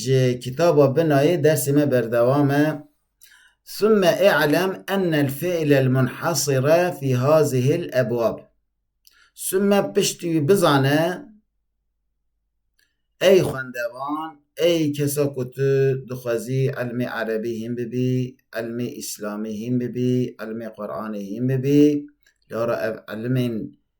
Ji kitaba Binayê dersê me berdewam e. Summe i'lem enel fi'lel munhasire fî hazihil ebwab. Summe piştî wî bizane ey xwendevan, ey kesa ku tu dixwezî ilmê erebî hîn bibî, ilmê îslamî hîn bibî, ilmê Quranê hîn bibî, lora ev ilimên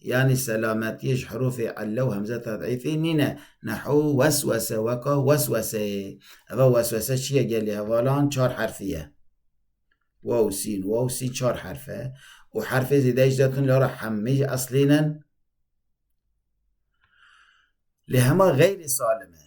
Yanî selametiyê ji herofê elle û hemzeta deîfê nîne. Nehu weswese weka weswese ye. Eva weswese çi ye gelê hevalan çar herfî ye. Waw, sîn, waw, sîn çar herf e û herfê zêde jî zetin li ra hemî jî eslîn in. Lê hema xeyrê salim e.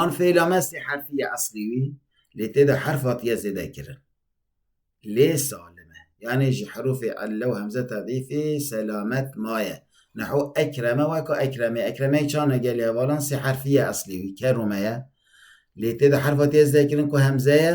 An fêla me sê herfî ye eslî wî lê tê de herf hatiye zêdekirin. Lê salim e. Yanê ji herûfê elle û hemze tedîfê selamet maye. Neho ekreme weka ekremê. Ekremeyê çan e gelê hevalan sê herfî ye eslî wî. Kerume ye. Lê tê de herf hatiye zêdekirin ku hemze ye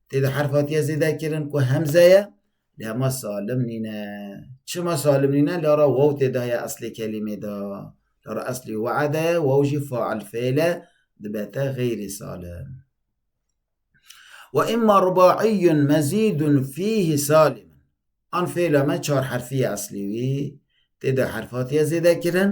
Tê de herf hatiye zêde kirin ku hemze ye lê hema salim nîne. Çima salim nîne? Lara waw tê de heye eslê kelîmê de. Lara eslî we'ede ye, waw jî fail fêl e, dibe te xeyrî salim. Wa îmma rubaiyyun mezîdun fîhî salim. An fêla me çar herfî ye eslî wî. Tê de herf hatiye zêde kirin.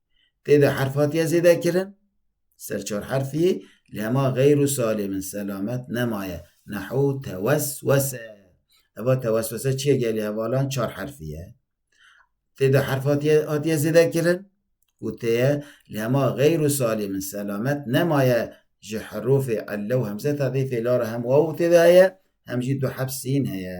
Tê de herf hatiye zêdekirin, ser çar herfî, li hema xeyr û salê min selamet nemaye. Nehu teweswese. Eva teweswese çi ye gelê hevalan çar herfî ye. Tê de herf hatiye hatiye zêdekirin û tê ye li hema xeyr û salê min selamet nemaye ji herofê elle û hemze ta dê fêla re hem waw tê de heye hem jî du heb sîn heye.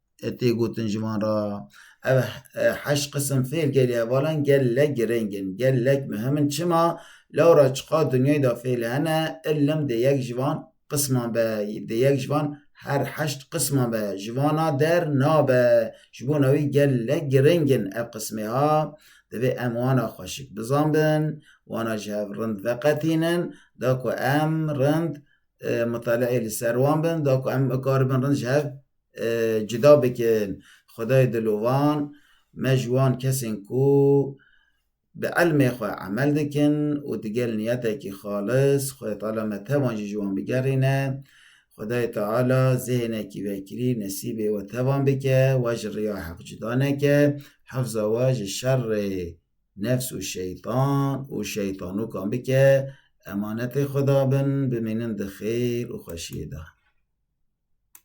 Tê gotin ji van re ev heşt qisim fêl gelê hevalan gelek girêng in, gelek mihim in. Çima? Lewra çiqas dinyayê de fêl hene, ilim di yek ji van qisman be, di yek ji van her heşt qisman be, ji vana der nabe. Ji bona wî gelek girêng in ev qismê ha. Divê em wana xweşik bizanbin, wana ji hev rind veqetînin, da ku em rind mutale'ê li ser wan bin, da ku em bikaribin rind ji hev cuda bikin. Xwedayê dilovan me ji wan kesên ku bi elmê xwe emel dikin û digel niyetekî xalis Xwedê Teala me tevan jî ji wan bigerîne. Xwedayê Teala zêhnekî vekirî nesîbê we tevan bike, we ji riya heq cuda neke, hifza we ji şerê nefs û şeytan û şeytanokan bike, emanetê Xweda bin, bimînin di xêr û xweşiyê de.